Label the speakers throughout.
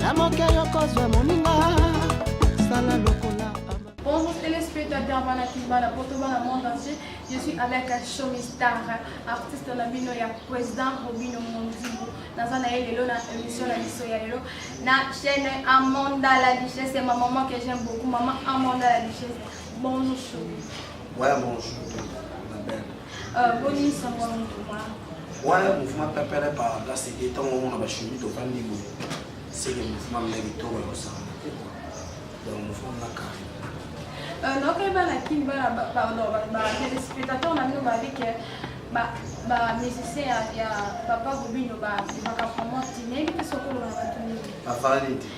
Speaker 1: na moke yokozwa moninga sala lokola Bonjour
Speaker 2: téléspectateurs bana kibana poto bana monde entier je suis avec Shomi Star artiste na bino ya président Robino Mondibo naza na ye lelo na émission na biso ya lelo na chaîne Amanda la Duchesse c'est ma maman que j'aime beaucoup maman Amanda la Duchesse bonjour Shomi ouais bonjour
Speaker 3: ma belle Euh, boni sango ya
Speaker 2: mouvema wana mouvema
Speaker 3: pepele par la sede ntango omona bashumi tofandi boye seke mouvema mna kitoko ya kosala donc mouvema mna kare euh,
Speaker 2: nakoyeba na kin bana batelespectateur na bino babi ke bamusicien ya papa robino babimaka vraiment tine ebi mpe sokoloba na bato nini bavandi te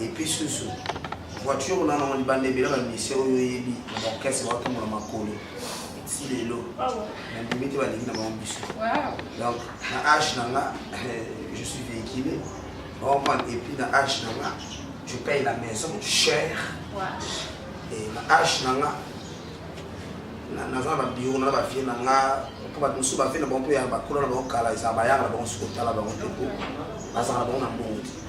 Speaker 3: Et puis susu voiture nana ngo libanda ebela bamisie oyo oyebi na baorchestre baotombola makolo ti lelo nandimi te balingi na bango biso donc na age na nga eh, je suis véhicule baoprendre et puis na age na nga je paye la maison cher et na age na nga naza na babiro na bavie na nga mpo bato mosusu bavie na bango mpo ya bakolo na bango kala ezala bayaka na bango soki otala bango te mpo bazala na bango na mbongo te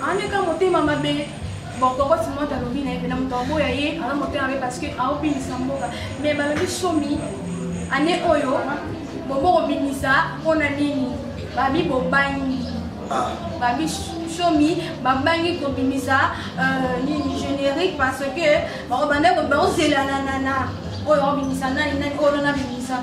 Speaker 2: Andeka motema mabe bokokoti moto alobi na ye mpena moto aboya ye aza motema mabe parce que aobimisa mboka mais balobi somi ane oyo bobokobimisa mpo na nini babi bobangi ah. babi somi babangi kobimisa euh, nini générique parce que bakobanda bakozelana na oyo obimisa nani nani oyo nabimisa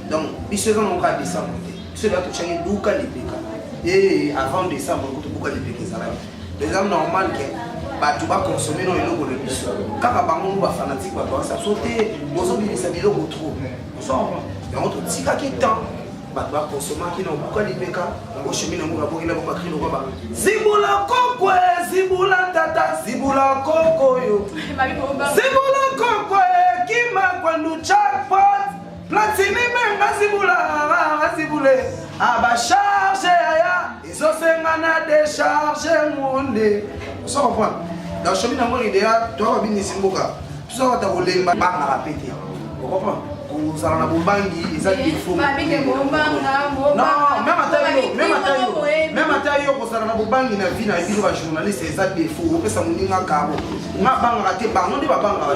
Speaker 3: donc biso eza moko ya décembre te biso eza totyaki buka lipeka e avant décembre kutu buka lipeka ezalaki eza normal ke bato bakonsome no eloko na biso kaka bango ngo bafanatike bato basa so te bozobimisa biloko trop yango totikaki temps bato bakonsomaki na obuka lipeka yango shemi na mboka bokila bo bakri lokoba zibula kokwe zibula tata zibula koko yo zibula kokwe kima kwandu chakpot Platini benga zibula rara zibule aba charge yaya ezosenga na decharge monde osa comprendre donc shomi na moni deya toa babinisi mboka toza bata kolemba bangaka mpe te ocomprendre kozala na bobangi eza defautmeme ata yo kozala na bobangi na vie na bino bajournaliste eza defaut opesa moninga karo nga bangaka te bango nde babangaka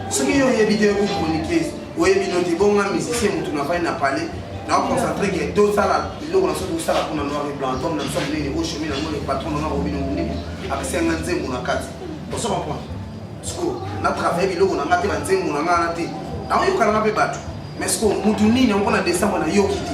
Speaker 3: soki yo oyebi te ko chroniquer oyebi no te bonga musicien mutu na fani na palais na concentre ke tosala biloko na soki tosala mpona noir et blanc album na biso monene o chemin yango le patron nanga obino monene apesenga nzembo na kati oso comprendre siko na travaille biloko na nga te banzembo na nga wana te naoyokananga mpe bato mais siko mutu nini yango na décembre nayoki te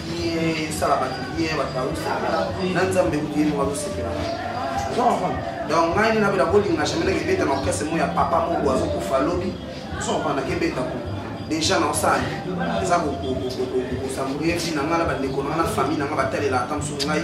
Speaker 3: ye esala bato bien bato bazosepela na nzambe kutu ye moko azosepela donc ngai nde nabela kolinga jamai nake ebeta na orkestre moko ya papa moko azokufa lobi osokoka nake ebeta ko déjà na osali eza kosambuye vi na ngai na bandeko na ngai na famille na ngai batalela ata mosusu ngai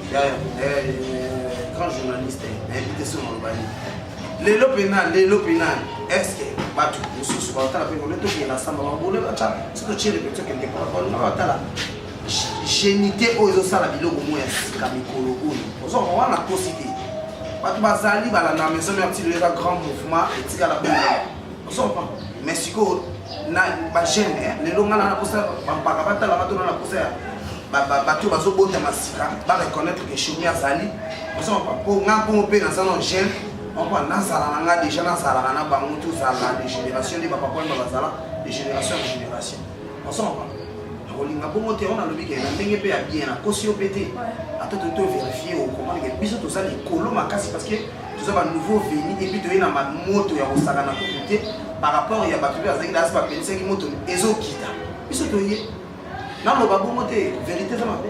Speaker 3: yaya eh, grand journaliste nayebi te soki maloba nini lelo mpena lelo mpena eske bato mosusu batala mpe kole tokenda samba babole bata so totie repetio kende kolabana batala genite oyo ezosala biloko moko ya sika mikolo oyo ozoko wana kosi te bato bazali balanda maison mère tiloyeka grand mouvement etikala boye osopa mais sikoyo na bagene eh, lelo ngai na posa bampaka batala batona na posa ya bato bazobotama sika bareconnaitre ke shomi azali osopa mpo ngai mpongo mpe naza na gene moko nazala na ngai deja nazalaka na bango tozala de génération nde bapapa wana bazala de génération na génération osopa kolinga bongo te wana alobi ke na ndenge mpe ya bien nakosi yo mpe te ata toto verifie okomani ke biso toza likolo makasi parce que toza ba nouveau venu et puis toye na ba moto ya kosaka na kuku te par rapport ya bato mpe bazalaki dasi bapelisaki moto ezokita biso toye naloba bongo te verité eza mabe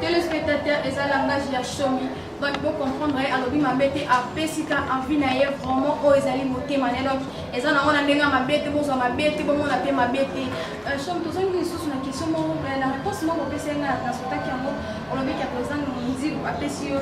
Speaker 3: telespectateur
Speaker 2: eza langage ya shomi donc bo comprendre ye alobi mabe te apesi ka envie na ye vraiment oyo ezali motema ne donc eza nango na ndenge ya mabe te bozwa mabe te bomona mpe mabe te euh, shomi tozongi lisusu na question moko na réponse moko opesi ye ngai na transportaki yango olobiki ya président mozibu apesi yo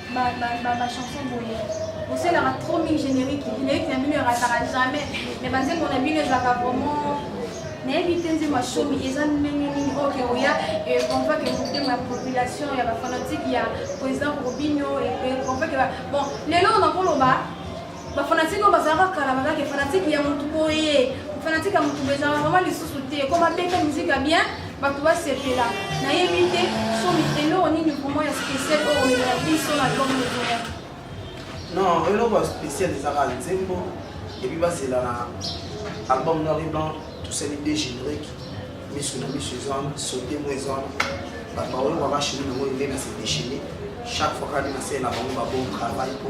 Speaker 2: ba ba ba, ba chanson boye bosalaka trop mingi générique générique na bino erataka jamais mais banzembo na bino ezalaka vraiment nayebi te nzembo ya shomi eza ndenge nini oyo ke oya econvoque eh, motema ya population ya bafanatike ya président robinio econvoque eh, eh, bon lelo nakoloba Ba fanatique oyo bazalaka kala bazalaki fanatique ya mutu boye. Fanatique ya mutu boye ezalaka vraiment lisusu te. Ko babeta musique ya bien, bato basepela. Nayebi te somi eloko nini vraiment ya spécial oyo omemela biso na album ozoya.
Speaker 3: Non, eloko ya spécial ezalaka nzembo epuis bazela na album noir et blanc tosali de générique miso na miso eza wana sote mo eza wana bato baoyo babashini nango ende na se déchaine chaque fois kani nasele na bango babon travail po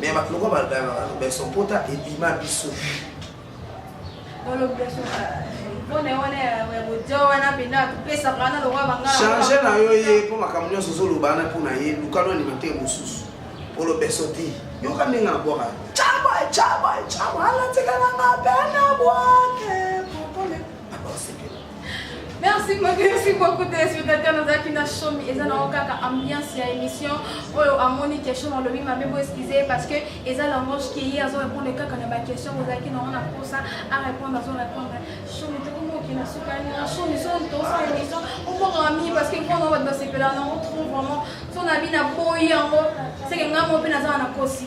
Speaker 3: mais bato lokola balobaka lobeso mpota ebima biso change na yo ye mpo makambo nyonso ozoloba wana mpo na ye lukano alimante mosusu mpo lobeso te yoka ndenge na bwaka cabo cabo cabo alatikaka mabe na bwake Merci
Speaker 2: beaucoup, merci beaucoup téléspectateurs nazalaki na shomi eza nango kaka ambiance ya émission oyo amoni question nalobi mabe bo excuse parce que eza langoge ke ye azo répondre kaka na baquestion ozalaki nango na mposa arépondre azo répondre shomi tokomoki na suka na shomi so tosa émission obongaka mingi parce que mpo nango bato basepela nango trop vraiment so na bina boyi yango seke ngai mo mpe nazala na kosi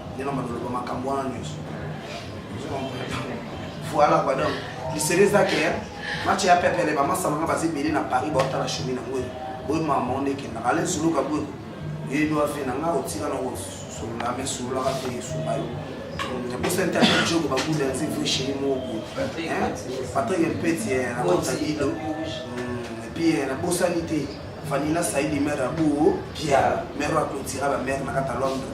Speaker 3: nde na mandoloba makambo wana nyonso voilà quoi donc lisele ezaki match ya pepele bamasama nga baza ebele na paris baotala chemin na boye boye mama onde ekendaka ale nsuluka boye yebi wafe na nga otika na kosolola me sololaka te esuka yo naposa nte ata jogo babunda nzi vrai chéri moko patrik mpeti na kota lido epuis nabosani te vanila saidi mare ya boo pia mare ya clotira bamare na kata londres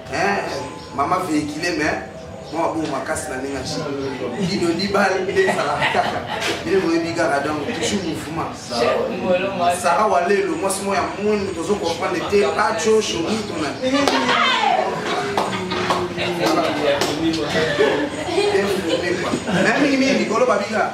Speaker 3: Eh, mama vehicule mais mwa bongo makasi na ndenge ci bino libale nde ezalaka kaka bino boyebi kaka donc toujours mouvement sara wa lelo mwasi moko ya moni tozo comprendre te paco shomi tona mingi mingi likolo babika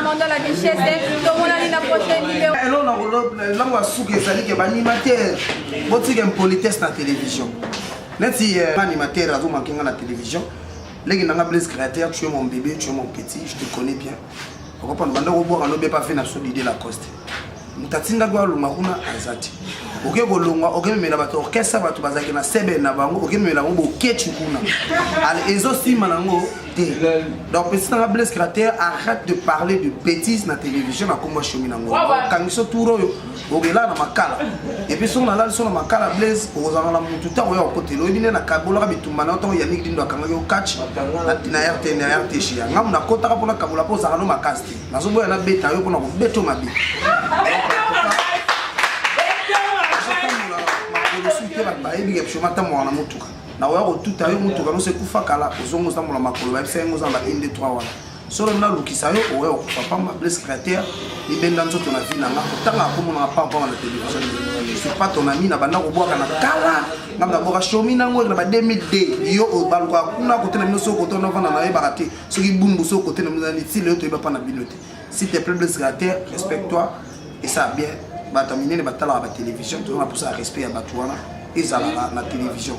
Speaker 2: amanda la richesse tomonani na prochaine video eloko na koloba
Speaker 3: eloko ya suka ezali ke baanimateur botika impolitesse na télévision neti euh, animateur azomanke nga na télévision leki nanga blaise créateur tu es mon bébé tu es mon petit je te connais bien okopanda banda kobwaka lobe pa fe na sudi de la coste moto atindaki alonga kuna aza te oke kolonga okememela bato orchestre bato bazalaki na sebe na bango okememela yango bokeci kuna ezosima nango te donc petit nanga blaise crater arrête de parler de bétise na télévision na kombo ya shomi nango okangiso tour oyo okelaa na makala epuis soki nalali so na makala blaise okozala na motu ntango ya okotela oyebi nde nakabolaka bitumba na yo ntango yaniki dindo akangaki okatch na rt na rtg ya ngambo nakotaka mpo nakabola mpo ozalaka no makasi te nazoboya nabeta yo mpo na kobeta yo mabe makolosu te bato bayebi kepshoma ntamboaka na motuka nakoya kotuta yo motuka noso ekufa kala ozonga otambola makolo bayebisa yango oza na ba 1 2 3 wana solo nga lukisa yo oya okufa pamba blesse cratère libenda nzoto na vie na nga kotanga akomona nga pamba na télévision c'est pas ton ami na banda kobwaka na kala nga na boka shomi na ngo na ba 2002 yo obaluka kuna kote na bino soko to na vanda na yebaka te soki bumbu soko kote na bino na ti leo toyeba pa na bino te s'il te plaît blesse cratère respecte toi et ça bien bato minene batalaka ba télévision tozonga posa respect ya bato wana ezalaka na télévision